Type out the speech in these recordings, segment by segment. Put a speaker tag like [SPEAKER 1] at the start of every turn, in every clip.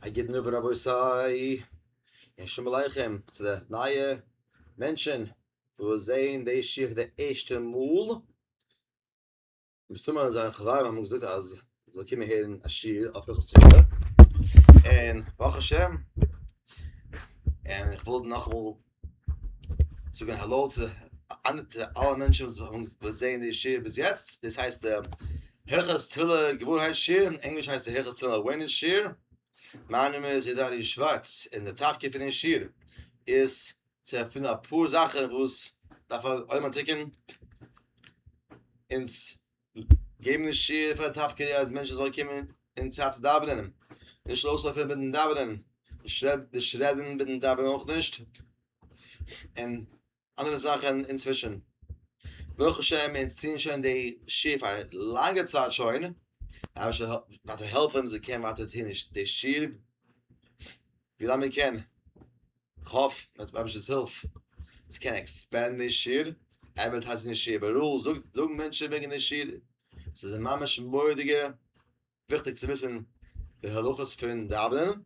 [SPEAKER 1] א גוטן אווענט רבותי, און שלום עליכם צו די נייע מענטשען וואס זעהן די שיעור די ערשטע מאל, מסתמא זיין חברים האבן געזאגט אז מען זאל קומען הערן א שיעור אויף הלכות סוכה, און ברוך השם, און איך וויל נאכאמאל. זאגן האלאו צו אלע מענטשן וואס זעען די שיעור ביז יעצט, דאס הייסט הלכות תפילה געוואוירהייט שיעור, אין ענגליש הייסט עס הלכות תפילה עווערנעס שיעור, מיין נאמען איז איד ארי' שווארץ, און די תפקיד פון די שיעור איז צו ערפילן אפאר זאכן וואס דארף א עולם אנטדעקן, אונז געבן נישט שיעור פאר די טף קעי אז מענטשן זאלן קומען אין צייט צו דאווענען, נישט לויז אויפהערן מיטן דאווענען, נישט רעדן מיטן דאווענען אויך נישט, און אנדערע זאכן אינצווישן. ברוך השם אונז טוען שוין די שיעור פאר א לאנגע צייט שוין, רבוש ע זאל ווייטער העלפן אז מען קען ווייטער טון די שיעור ווילאנג מען קען. כ'האף מיט רבשעס הילף צו קענען עקספענדן די שיעור, עדווערטייזן די שיעור איבעראל, זאגן מענטשן וועגן די שיעור, ס'איז ממש מורא'דיגע וויכטיג צו וויסן די הלכות פון דאווענען,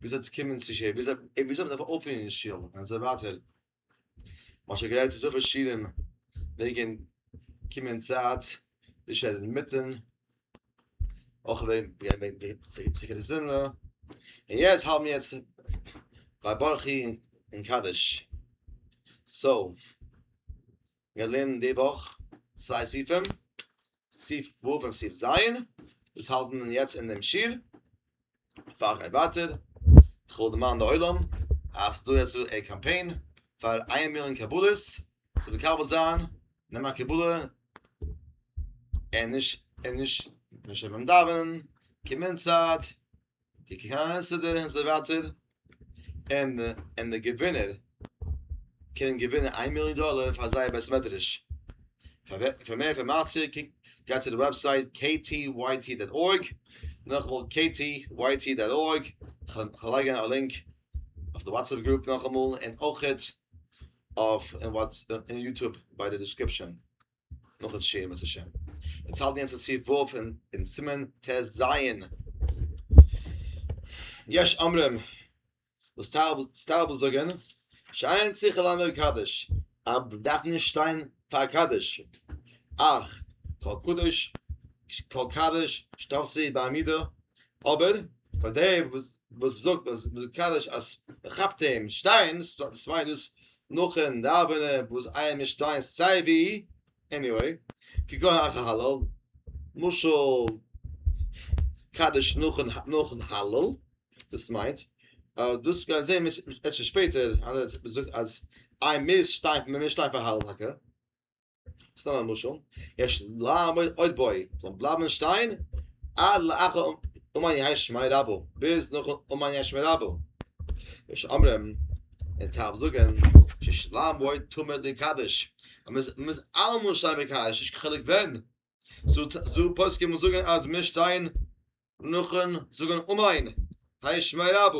[SPEAKER 1] וויאזוי צו קומען צו שיעור, וויאזוי מ'דארף אויפטון אין שול און אזוי ווייטער, מ'האט שוין גערעדט אזויפיל שיעורים וועגן קומען אין צייט, נישט רעדן אינמיטן. אויך ווען ווען ווען ווען זיך די זון און יעצט האלט מיר יעצט ביי ברכי און קדש סאו מיר לערנען די וואך צוויי סעיפים סעיף ו' און סעיף ז' וואס האלטן יעצט אינעם שול פאר איך גיי ווייטער, איך וויל דערמאנען די עולם אז ס'דא יעצט דא א קאמפיין פאר איין מיליאן קבלות צו מקבל זיין, נעם א קבלה און נישט און נישט נישט ביים דאווענען, קום אין צייט, קוק קיין אן אינסטעדער און אזוי ווייטער, און און די געווינער קענען געווינען איין מיליאן דאלער פאר זייער בית מדרש. פאר פאר מער אינפארמאציע קוק גיי צו די וועבסייט ktyt דאט org נאכאמאל ktyt דאט org כ'וועל לייגען א לינק אויף די וואטסעפפ גרופ נאכאמאל און אויכעט אויף און יוטוב ביי די דיסקריפשען. נאך א שיעור בעז השם. אונז האלטן יעצט א סעיף ו' אין סימן ט ז. יש אומרים וואס טייל וואס זאגן שאין צריך ללמד קדש אז מ'דארף נישט שטיין פאר קדש אך כל קדוש כל קדוש שתעשה בעמידה אבער פאר די וואס זאגט אז קדש אז מ'כאפט אים שטיין ס'מיינסט דאס נאכן דאווענען וואס אייער משטיין סיי ווי, עניוועי, כגון אחר הלל, משל קדיש נאכן הלל, דאס מיינט, אבער דאס וועל זעהן מיר אפשר שפעטער, אז מיר מוזן שטיין פאר הלל טאקע. סתם א משל, יש לעמוד עוד בוי, זאל בלייבן שטיין, עד לאחר אומאן יהא שמאי רבא, ביז נאך אומאן יהא שמאי רבא. יש אומרים, עס טאר מען זאגן, שיש לעמוד תמיד דקדש, אז מען מוז אלעמאל שטיין בקדש, נישט קיין חילוק ווען, זו פוסקים וואס זאגן אז מיר שטיין נאכן זאגן אומאן יהא שמאי רבא.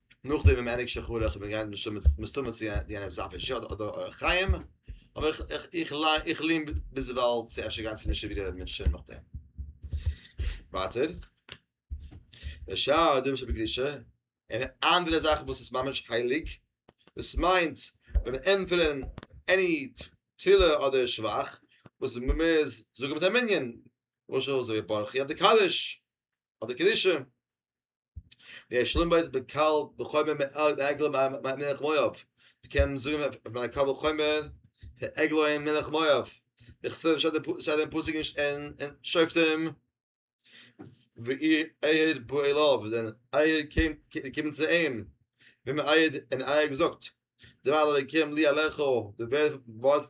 [SPEAKER 1] נאך דעם ווען ענק שחרור איך בין געגאנגען מיט שומץ מסתמא צו די אן עס אפען שאט אדער אור החיים אבער איך איך איך ליין איך לין ביז וואלט צו אפשר גאנצע נישט ווידער האבן מיט שום נאך דעם ווייטער דער שאר דעם שב קדישה און אנדערע זאכן וואס איז ממש הייליג דאס מיינט ווען ענטפערן עני תפילה אדער שבח וואס איז ממש זאגן מיט א מנין למשל זאג איך ברוך יד קדש אדער קדישה ווי ער שלומבערט בקל בחומר מעל עגלה מלך מואב מ'קען זאגן אויף מיין קל וחומר פון עגלה אין מלך מואב בכסלו שטייט אין פסוק אין שופטים ואיר אייער בא אליו ווען אייער קומט צו אים ווען אייער און אייער האט געזאגט דבר אלוקים לי עליך די ווערט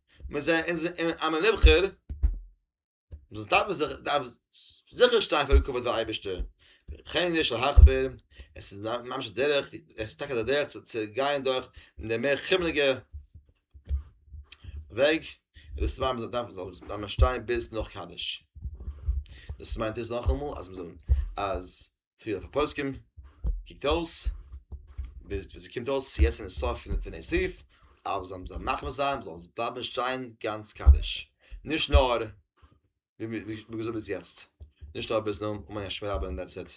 [SPEAKER 1] מען זעט אין זיין א מען נבחר דאס דארף מען זיך דארף זיכער שטיין פאר די כבוד פון אייבערשטער וכן יש להחמיר עס איז ממש א דרך עס איז טאקע א דרך צו גיין דורך די מער חומריגע וועג דאס מיינט מען דארף דארף מען שטיין ביז נאך קדיש דאס מיינט עס נאכאמאל אז מ'זאל אז פריער אויף הפוסקים, קוקט אויס, ביז ווי ס'קומט אויס יעצט אין סוף פון דעם סעיף, אז מ'זאל זיי מחמיר זיין, זאלן זיי בלייבן שטיין גאנץ קדוש, נישט נאר ווי געזאגט ביז יעצט, נישט נאר ביז נאך מנין שמואל רבי און דעטס איט.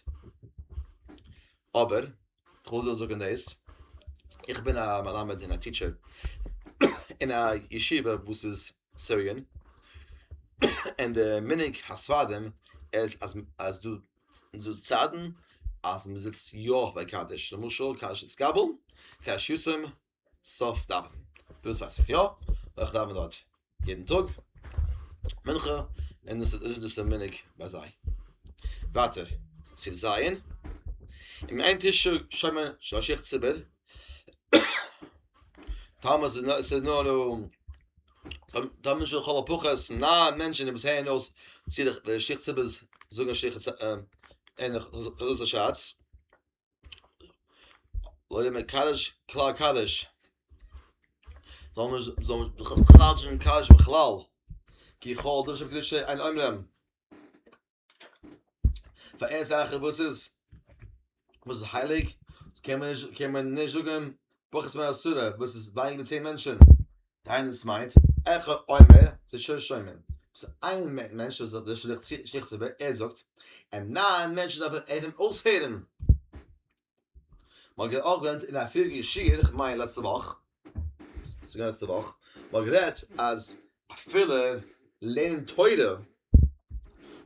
[SPEAKER 1] אבער, כ'וויל דא זאגן דאס, איך בין א מלמד און א טיטשער אין א ישיבה וואס איז סיריען, און די מנהג הספרדים איז אז דא און זאגט צייטן אז מען זיצט יא ביי קדיש, למשל קדיש התקבל, קדיש יסעם, סוף דאווענען, דאס ווייס איך יא, ווייל איך דאווען דארט יעדן טאג מנחה, און דאס איז דאס א מנהג ביי זיי. ווייטער, סימן ז', און מיט איין טיש שומע שליח ציבור טאמער עס איז נאר טאמער נישט לכל הפחות נײַן מענטשען וואס הערן אויס צי די שיכט ציבערס זאגען שיכת צ ע אין חזרת השץ אוי דער מקדש כלל קדש זאל מען זאל מען בכלל נישט קדש בכלל כי כל דשא קדשי אין אומרים פאר איין זאך וואס איז וואס איז הייליג קען מען נישט קען מען נישט זאגן פחות מהסורה וואס איז ווייניגער צען מענטשן דיין עס מיינט איך אומר זיי שוין שומעים וואס איין מענטש וואס זאל שליך שליך צו ער זאגט אין נײַן מענטשן דארף ער אים אויסהערן מאגער אויך ווען אין א פריערדיגע שיעור כ'מיין לעצטע וואך ס'איז געווען לעצטע וואך, מ'האט גערעדט אז אפילו לערנען תורה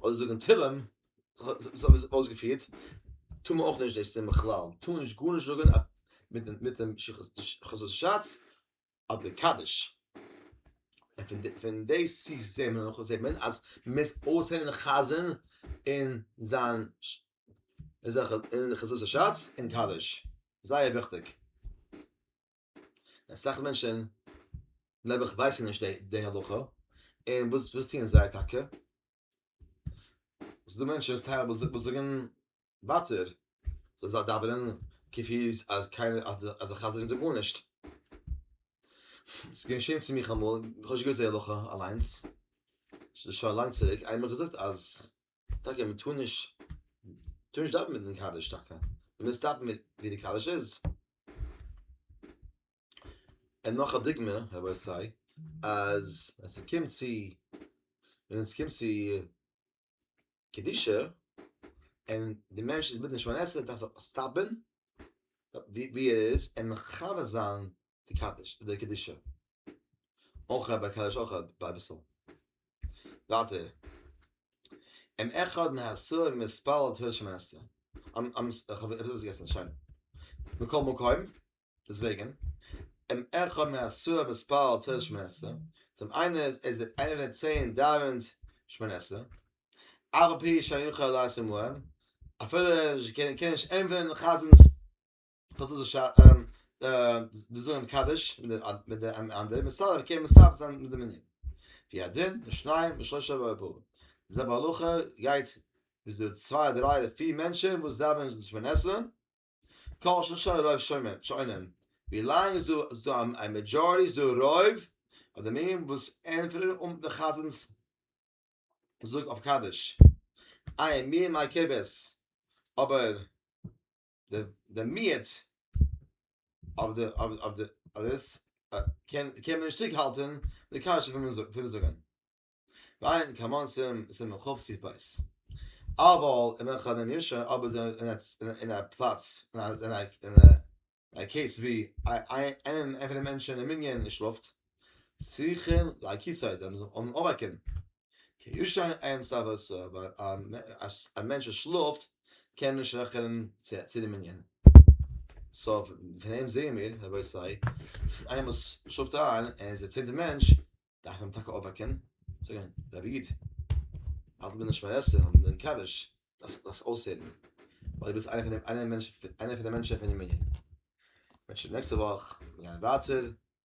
[SPEAKER 1] אדער זאגן תהלים, זיך אויסגעפירט, טאר מען אויך נישט דאס טון בכלל, מען טאר נישט גארנישט זאגן מיט'ן חזות שץ אדער קדיש, און פון די ספר זעהט מען נאך, זעהט מען אז מען מוז אויסהערן די חזן און זיין, און זיין חזות השץ און קדיש. זייער וויכטיג. אסאך מענטשן נעבעך ווייסן נישט די הלכה, און וואס וואס טוען זיי טאקע? ס'איז דא מענטשן וואס זאגן ווייטער, זיי זאלן דאווענען כפי אז קיינער אז די חזיר זאגט גארנישט. ס'איז געשען צו מיך אמאל, כ'האב נישט געוואוסט די הלכה אליינס, שוין לאנג צוריק, איינמאל האב איך געזאגט אז טאקע מען טאר נישט טאר נישט דאווענען מיטן קדיש טאקע מען מוז סטאפן מיט ווי די קדיש איז און נאך א דוגמא רבותי אז ווען ס'קומט צו ווען ס'קומט צו קדישה און די מענטש איז בדין שמונה עשרה דארף ער סטאפן ווי ער איז און מכבד זיין די קדיש די קדישה אויך רבי הקדוש אויך רבי אביסל ווייטער אם אחד מהעשרה ממספר על תפילת שמונה עשרה אן אן איך האב עפעס געסען שוין מכל מקום דעסוועגען אם אחד מהעשרה ממספר על תפילת שמונה עשרה דעם איינער איז איז איינער פון די צען דאווענט שמונה עשרה אף על פי שאין יכול לעשות מוען אפילו נישט קען נישט ענפערען חזנ'ס פארוואס זאל זיך דאס זאגן אין קדיש מיט די אנדערע מסדר קען מסדר זיין מיט די מנין ווי א דין לשניים ושלושה ועבור די זעלבע הלכה גייט ביז די צוויי דריי אדער פיר מענטשען וואס דאווענען זיך שמונה עשרה כל שלשה רוב שומעים ווי לאנג איז דא א מעדזשארעטי איז דא רוב אויף די מנין וואס ענטפערן אן די חזן'ס זאג אויף קדיש איי מי מיי כבש אבער די די מיעט אויף די אויף די אדעס קען קען מען נישט צוריק האלטען די קשיא פון פון זאגען וויין קאמאן סעם סעם חוב סיף בייס אבער אין וועלכע די נישא אבער די אין א פלאץ אין א אין א קעיס ווי איינער פון די מענטשען אין מנין שלאפט. צריכים להכיר סיידע מען זאל אים אנערקענען, כי ישן עיין סבר סוה ווייל א מענטש וואס שלאפט קען נישט רעכענען צו די מנין, סא פון אים זעהען מיר רבותי איינער וואס שלאפט איין ער איז א צענטע מענטש דארף מען אים טאקע אויפוועקען און זאגען רבי איד האלט די נשמה און עס און דעם קדיש דארפסט דאס אויסהערען ווייל דו ביסט איינער פון די מענטשען פון די מנין. נעקסטע וואך גייען ווייטער.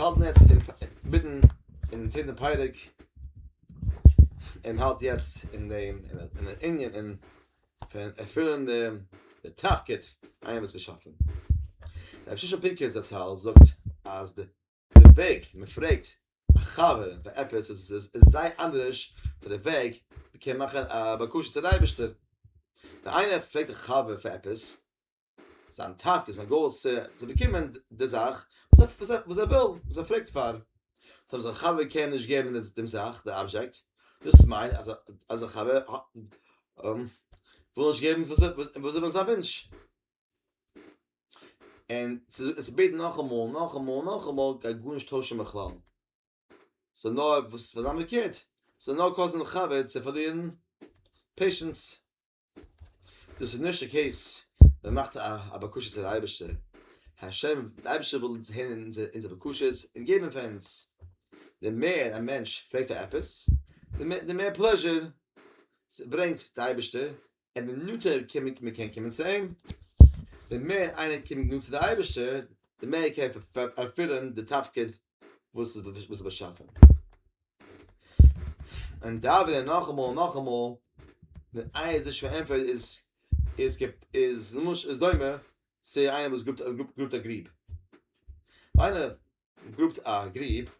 [SPEAKER 1] אונז האלטן יעצט מיטן אין צענטע פייריק אין האלט יעצט אין דעם אין דער ענין אין פון ערפילן דעם די תפקיד איינער וואס געשאפן רב ששון פינקער זצל זאגט אז די וועג מען פרעגט א חבר פאר עפעס איז זייער אנדערש פון די וועג מען קען מאכן א בקשה צום אייבערשטער ווען איינער פרעגט א חבר פאר עפעס זיין תפקיד, זיין גאול איז צו צו באקומען די זאך וואס ער וואס ער וויל, וואס ער פרעגט פאר. טא אויב זיין חבר קען נישט געבן דעם זאך, די אבזשעקט, דאס מיינט אז אז זיין חבר וויל נישט געבן וואס וואס איז זיין וואונטש. און צו בעטן נאכאמאל, נאכאמאל, נאכאמאל גייט גארנישט טוישן בכלל. ס'איז נאר וואס וועט זיין פארקערט, ס'איז נאר קאזן לחבר צו פארלירן פעישענס. דאס איז נישט די קעיס, מען מאכט א בקשה צו די אייבערשטער, השם די אייבערשטער וויל הערן אונזערע בקשות און געבן פאר אונז, די מער א מענטש פרעגט פאר עפעס, די מער פלעזשער ברענגט די אייבערשטער, און די נאנטער מען קען קומען צו אים, די מער איינער קומט נאנט צו די אייבערשטער, די מער קען ער ערפילן די תפקיד וואס איז וואס איז באשאפען און דאווענען נאכאמאל נאכאמאל די אייז איז שווער ענטפער איז איז געפ איז נמוש איז דוימע צו איינער וואס גרופט גרופט גרופט א גריב איינער גרופט א גריב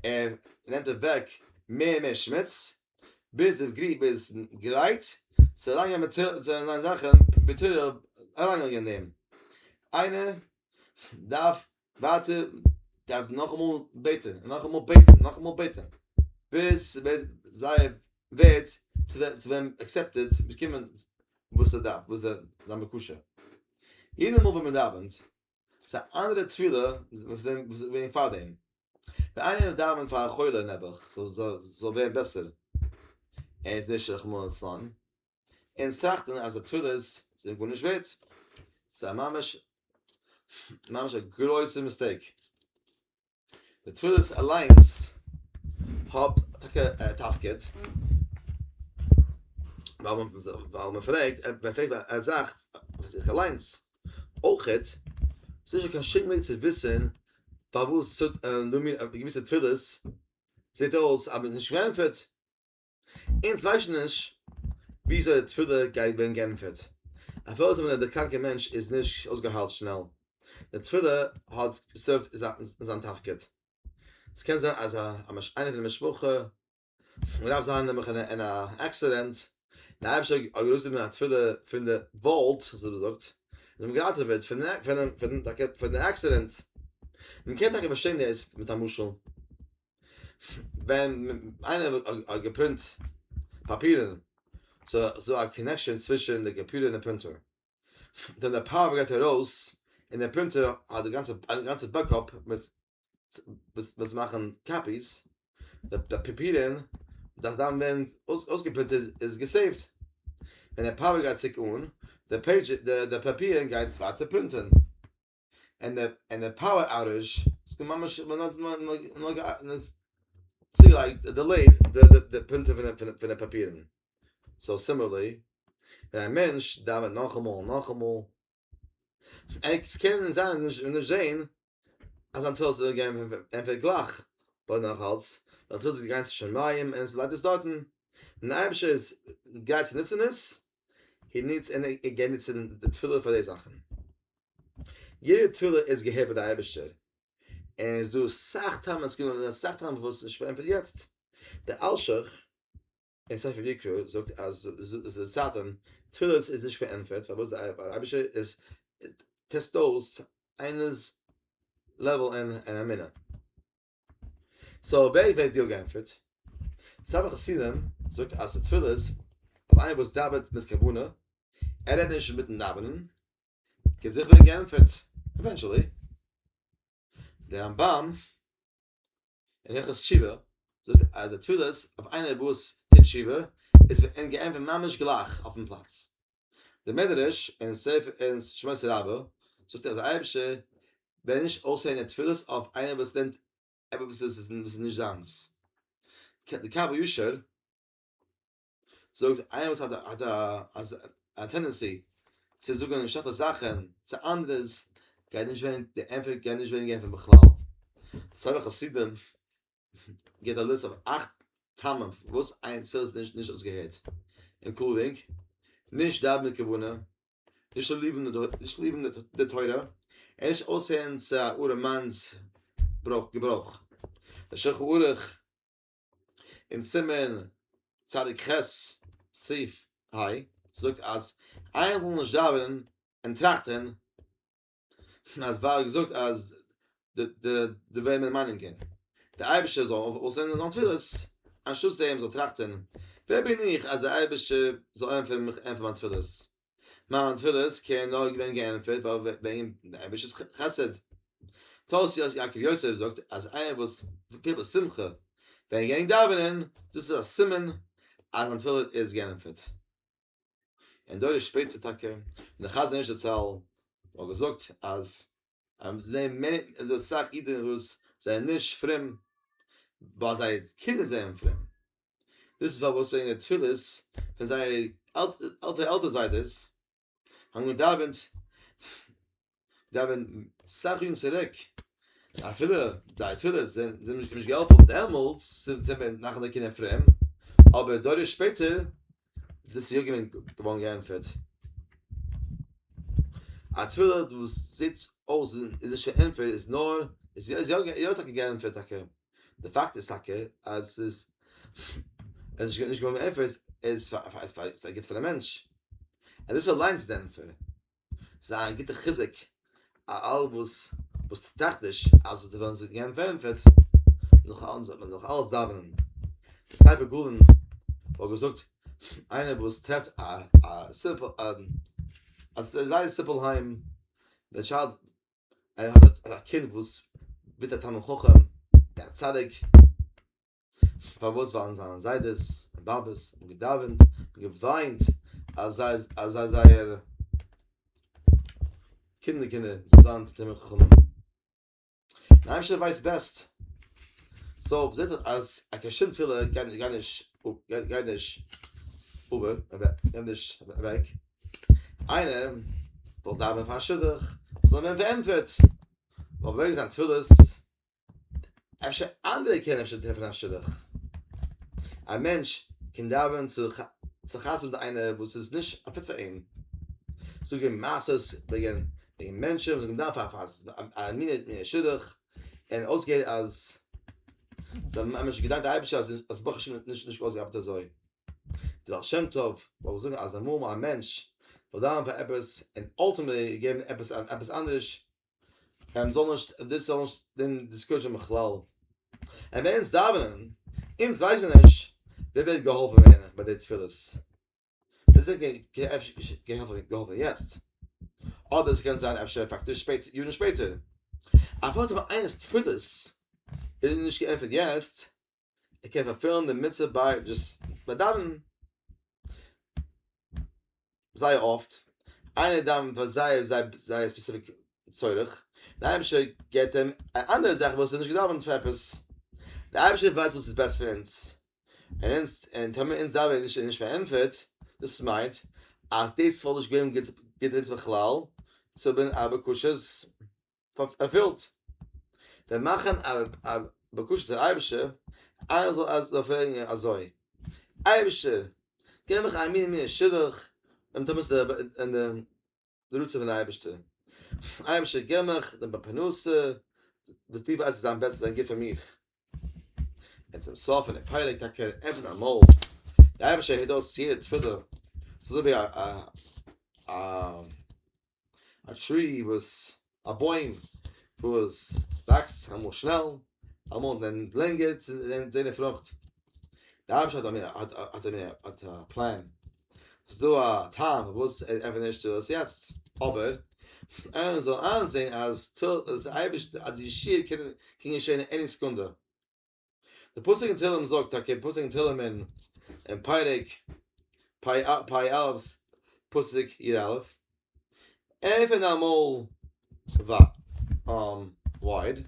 [SPEAKER 1] ער נעמט אוועק מער מער שמוץ ביז דער גריב איז גרייט צו לאנגע מיט צו זיין זאכן ביטער אריינגעלייגט אין דעם איינער דארף ווארטען דארף נאכאמאל בעטען נאכאמאל בעטען נאכאמאל בעטען ביז ס'וועט זייער ווערט צו ווערן עקסעפטעד צו באקומען וואס ער דארף וואס זיין בקשה יעדע מאל ווען מ'דאווענט ס'איז א אנדערע תפילה וואס איז געווען פאר דעם ווען איינער דאווענט פאר א חולה נעבעך זאל ווערן בעסער ער איז נישט רחמנא לצלן און עס טראכטן אז די תפילות זענען גארנישט ווערט. ס'איז א ממש ממש א גרויסע מיסטעיק. די תפילות אליינס האט טאקע א תפקיד. ווייל מען ווייל מען פרעגט מען פרעגט א זאך פאר זיך אליינס. אויכעט איז נישטא קיין שום וועג צו וויסן פארוואס ס'טוט א געוויסע תפילות זעט אויס אז מען איז נישט געענטפערט. אונז ווייסן נישט וויאזוי די תפילה גייט ווערן גענטפערט. אויף וועלכע מינוט דער קראנקער מענטש איז נישט אויסגעהיילט שנעל, די תפילה האט סערווד זיין תפקיד. ס'קען זיין אז א איינער פון די משפחה דארף זיין נעבעך אין א עקסידענט, דער אייבערשטער האט ארויסגענומען א תפילה פון די וואלד, ווי מען זאגט, און זיי האבן געראטעוועט פון די עקסידענט. מען קען טאקע פארשטיין דאס מיט א משל. ווען איינער האט געפרינט פאפירן ס'איז דא א קאנעקשאן צווישן די קאמפיוטער און די פרינטער, ווען די פאווער גייט ארויס און די פרינטער האט די גאנצע א גאנצע בעקאפ מיט וואס מאכן קאפיס, די פאפירן דארף דאן ווערן אויסגעפרינטעט איז געסעיווט, ווען די פאווער גייט צוריק אן די פעידזש די פאפירן גייט ווייטער פרינטען. און די און די פאוער אוטעזש איז געווען ממש צוגעלייגט דעלעיד די די די פרינטער פון די פון די פאפירן סאו סימערלי ווען א מענטש דאווענט נאכאמאל און נאכאמאל עס קען זיין נישט נישט זעהן אז זיין תפילות זענען געווען ענטפערט גלייך אבער נאכאלץ זיין תפילות איז געגאנגען צו שמים און עס בלייבט עס דארטן און די אייבישטער איז גרייט צו נוצן עס און ניצט און ער גייט ניצן די תפילה פאר די זאכן. יעדע תפילה איז געהערט ביי די אייבערשטער, און עס איז דא אסאך טעמים, עס קען זיין אסאך טעמים פארוואס עס איז נישט פארענטפערט יעצט. דער אלשיך אין ספר יקרא זאגט אז זיי זאגן תפילות איז נישט פארענטפערט פארוואס די אייבערשטער איז טעסט אויס איינער'ס לעוועל אין אמונה. סאו אויב ער ווערט יא גענטפערט, ספר החסידים זאגט אז די תפילה איז אויף איינער וואס דאווענט מיט כוונה, ער רעדט נישט מיטן דאווענען, קען זיכער ווערן גענטפערט עווענטשעלי. דער רמב ם אין הלכות תשובה זאגט אז די תפילות אויף איינער וואס טוט תשובה איז ווערט אים גענטפערט ממש גלייך אויפן פלאץ. די מדרש אין ספר אין שמות רבה זאגט אז אייבערשטער ווען נישט אויסהערן די תפילות אויף איינער וואס נעמט עפעס וואס איז נישט זיינס די קו הישר זאגט איינער וואס האט האט א טענדענסי צו זאגן שלעכטע זאכן צו אנדערע'ס גייט נישט ווערן די ענטפער גייט נישט ווערן געענטפערט בכלל סארא חסידים גיט א ליסט אויף אכט טעמים פארוואס איין תפילה איז נישט נישט אויסגעהערט, אינקלודינג, נישט דאווען מיט כוונה, נישט ליבן די תורה, און נישט אויסהערן צו א ארעמאנס געברויך. דער שולחן ערוך אין סימן צדיק ח סעיף ה זאגט אז איינער זאל נישט דאווענען און טראכטען אז וואר האט געזאגט אז די די די וועם מיר מיינען געווען די אייבישע זאל אויסענדיגן זיין תפילות אנשטאט זיי אים זאל טראכטען ווער בין איך אז די אייבישע זאל ענטפערן מיך ענטפערן מיין תפילות מיין תפילות קען נאר געווען געענטפערט וועגן די אייבישעס חסד תוס' יעקב יוסף זאגט אז איינער וואס פיל א שמחה ווען ער גענג דאווענען דאס איז א סימן אז זיין תפילה איז געענטפערט. אין דור איז שפעטער טאקע די חזון איש זצל האט געזאגט אז אז זיי מער אז דאס זאך אידן וואס זיי נישט פרום ווייל זיי קינדער זענען פרום דאס פאר וואס וועגן די תפילות פון זייער אלטע אלטע זיידעס האבן געדאווענט געווען סאך יארן צוריק, אפילו די תפילות זענען נישט געהאלפן דעמאלטס, זענען מיר נאך די קינדער פרום, אבער דורות שפעטער איז דאס יא געווען געווארן געענטפערט. א תפילה וואס זעט אויס און איז נישט געענטפערט איז נאר, איז יא יא טאקע געענטפערט טאקע, די פאקט איז טאקע אז עס איז עס איז נישט געווארן געענטפערט איז פאר א גוט פאר די מענטש, און דאס אליינס איז די ענטפער. זיי א גוטע חיזוק א אלע וואס וואס טראכט נישט אז די וועלן זיך געבן פערענטפערט נאך אלעם זאל מען נאך אלעס דאווענען די ספר גאלן האט געזאגט איינער וואס טרעפט א א סימפל א א זייער סימפל היים דער טשיילד ער האט א קינד וואס ווערט א תלמיד חכם א צדיק פארוואס ווייל זיינע זיידעס און באבעס האבן געדאווענט און געוויינט אז זיי אז זיי זייער קינדער קינדער זאלן זיין תלמידי חכמים און אייבערשטער ווייסט בעסט סאו זעט זיך אז א קיין שום תפילה גייט נישט גייט נישט גייט נישט אבער גייט נישט אוועק איינער זאל דאווענען פאר א שידוך זאל ווערן פארענטפערט אבער וועגן זיין תפילות אפשר אנדערע קענען אפשר טרעפן א שידוך. א מענטש קען דאווענען צו צו חתונה מיט איינער וואס איז נישט א פיט פאר אים. זאג אים מעשה'ס וועגן וועגן מענטשן וואס מ'דארף א פאר א מינע מינע שידוך, און אויסגעהערט אז זיי האבן ממש געדאנקט די אייבישטער אז אז ברוך השם נישט נישט אויסגעארבעט אזוי. די בעל שם טוב פלעגט זאגן אז אמאל אמאל א מענטש זאל דאווענען פאר עפעס און אלטימעטלי געבן עפעס עפעס אנדערש. ער זאל נישט דאס זאל נישט דעם דיסקוישען בכלל ער ווען עס דאווענען אונז ווייסן נישט ווער וועט געהאלפן ווערן ביי די תפילות דאס איז געהאלפן יעצט אדער עס קען זיין אפשר פאקטיש שפעט יארן שפעטער אפילו איינערס תפילות איז נישט געענטפערט יעצט ער קען פארפילן די מצוה ביי דזשאסט ביי דאווענען זייער אפט איינער דאווענט פאר זייער זייער ספעציפיק צורך דער אייבערשטער געבט אים א אנדערע זאך וואס ער האט נישט געדאווענט פאר עפעס דער אייבערשטער ווייסט וואס איז בעסט פאר אונז און אונז און טאמער אונז דאווענען נישט און נישט פארענטפערט דאס מיינט אז דאס וואלט נישט געווען גוט אונז בכלל צו האבן א בקשה ערפילט. ווען מאכן א בקשה צום אייבערשטער, איינער זאל אז זאל פרעגן אזוי, אייבערשטער, געב מיך א מינע מינע שידוך, און טו וואס אין די רצון פון די אייבערשטער. אייבערשטער געב מיך די פרנסה וואס דו ווייסט וואס איז אמבעסטן און גוט פאר מיך. און צום סוף פון די פרק טאקע עפענט אמאל די אייבערשטער הערט אויס יעדע תפילה ס'איז אזוי ווי א א א טרי וואס א בוים וואס וואקסט אמאל שנעל אמאל לענגער צו זען די פרוכט. די ארבעטש האט א מין האט א האט א מין האט א פלאן ס'איז דא א טעם פארוואס ער עפענט נישט דאס יעצט אבער ער זאל איינזעהן אז תל אז אייבירשט אז די ישועה קען קען געשעהן עני סעקונדע די פסוק אין תהלים זאגט טאקע די פסוק אין תהלים אין אין פרק פ א פ א פסוק י א עפען אמאל ווייט און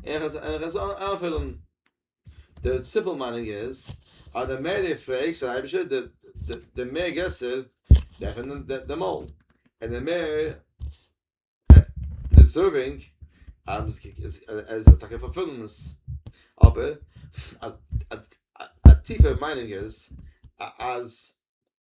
[SPEAKER 1] איך וועל עס אנפילן די סימפל מיינונג איז אז די מער די פרעגסט פאר די אייבישטער די די די מער גרעסער דעפענט די מויל און די מער דיזערווינג אז עס זאל טאקע פארפילן עס אבער א טיפער מיינונג איז אז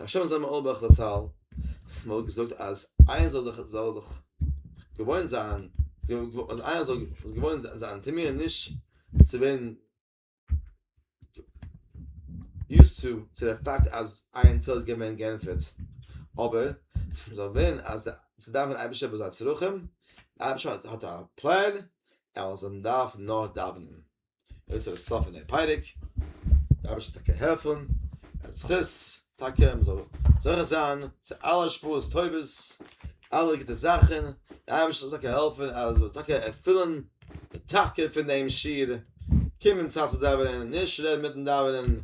[SPEAKER 1] רבי שמעון זלמן אויערבאך זצל האט געזאגט אז איינער זאל זיך זאל זיך געוואוין זיין אז איינער זאל זיך געוואוין זיין צו מיר נישט צו ווערן יוז צו צו דער פאקט אז עין טוב איז געווען גענפערט אבער זאל ווערן אז צו דאווענען אייבישטער ביי זיין צרכים אייבישטער האט א פלאן ער זאל דארפן נאר דאווענען. איז ער סוף אין דעם פרק דארף איך טאקע העלפן ער זכות טאקע מיר זאל זוכה זיין צו אלע שפעות טובות אלע גוטע זאכן דארף איך טאקע העלפן אז זאל טאקע ערפילן די תפקיד פון דעם שיר קומען צייט צו דאווענען נישט רעדן מיטן דאווענען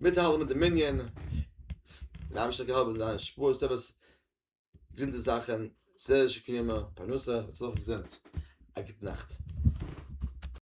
[SPEAKER 1] מיטהאלטן מיט די מנין דארף איך טאקע העלפן זיין שפעות טובות געזונטע זאכן סער שקימה פרנסה הצלחה געזונט א גוט נאכט